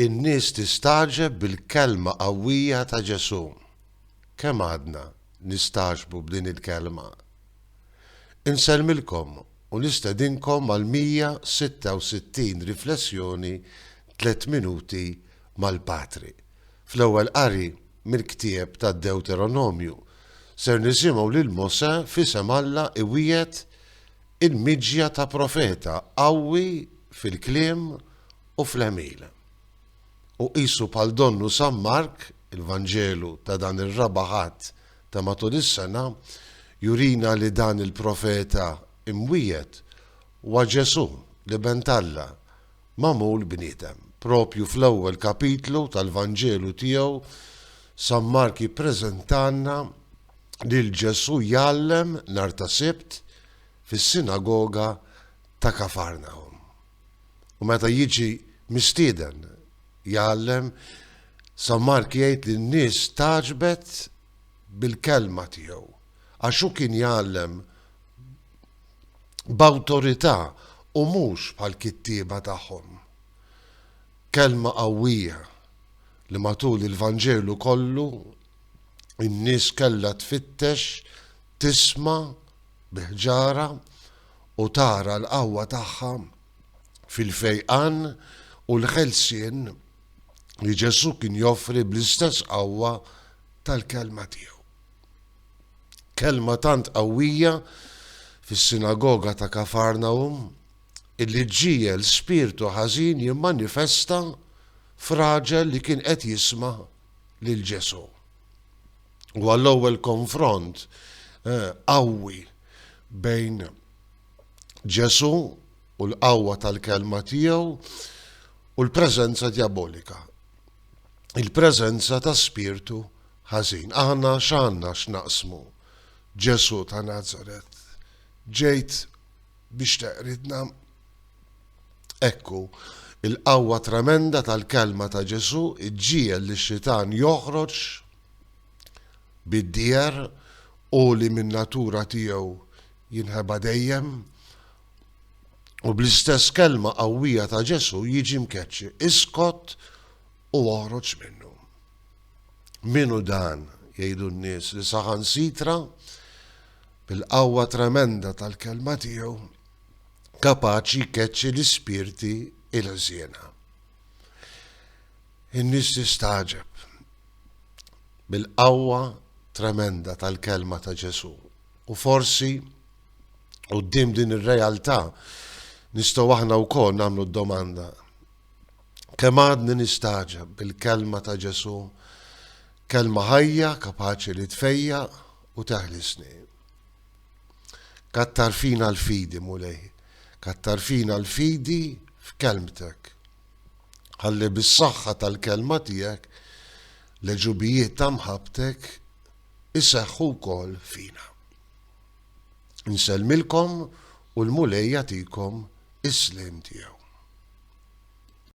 In-nies tistagħġeb bil-kelma qawwija ta' Ġesù. Kemm għadna nistagħġbu b'din il-kelma? Insellmilkom u nistedinkom għall-166 riflessjoni Tliet Minuti mal-Patri. Fl-ewwel qari mill-ktieb tad-Dewteronomju, ser nisimgħu lil Mosè f'isem Alla iwiegħed Il-miġja ta' profeta qawwi fil-kliem u fl-għemil. U qisu bħal donnu San Mark, il-Vanġelu ta' dan ir-raba' Ħadd ta' matul is-sena, jurina li dan il-profeta imwiegħed huwa Ġesù, l-Iben t'Alla, magħmul bniedem. Proprju fl-ewwel kapitlu tal-Vanġelu tiegħu, San Mark jippreżentalna, lil Ġesù jgħallem nhar ta' Sibt fis-sinagoga ta' Kafarnahum. U meta jiġi mistieden jgħallem, San Mark jgħid li n-nies taġbet bil-kelma tiegħu għax hu kien jgħallem b'awtorità u mhux bħall-kittieba tagħhom. Kelma qawwija li matul il-Vanġelu kollu in-nies kellha tfittex, tisma' bi ħġara u tara l-qawwa tagħha fil-fejqan u l-ħelsien li Ġesù kien joffri bl-istess qawwa tal-Kelma tiegħu. Kelma tant qawwija fis-sinagoga ta' Kafarnawm illi ġġiegħel spirtu ħażin jimmanifesta f'raġel li kien qed jisma' lil Ġesù. U għall-ewwel konfront eh, qawwi bejn Ġesù u l-qawwa tal-kelma tiegħu u l-preżenza diabolika. Il-preżenza ta' spirtu ħażin. Aħna x'għandna x'naqsmu. Ġesù ta' Nazaret. Ġejt biex teqridna Ekku, il-qawwa tremenda tal-kelma ta' Ġesù ġġiegħel lix-xitan joħroġ bid-dieher, hu li min-natura tiegħu jinħeba dejjem, u bl-istess kelma qawwija ta' Ġesù jiġi mkeċċi, Iskot u oħroġ minnu. Min hu dan, jgħidu n-nies, li saħansitra bil-qawwa tremenda tal-kelma tiegħu, kapaċi jkeċċi l-ispirti ilħżiena. In-nies tistagħġeb bil-qawwa tremenda tal-kelma ta' Ġesù u forsi Qudiem din ir-realtà nistgħu aħna wkoll nagħmlu d-domanda kemm għadni nistaġeb bil-kelma ta' Ġesu, kelma ħajja kapaċi li tfejja u teħlisni. Kattar fina l-fidi, Mulej. Kattar fina l-fidi f'Kelmtek. Ħalli bis-saħħa tal-Kelma tiegħek l-għeġubijiet ta' mħabbtek iseħħu wkoll fina. Insellmilkom u l-Mulej jagħtikom is-sliem tiegħu.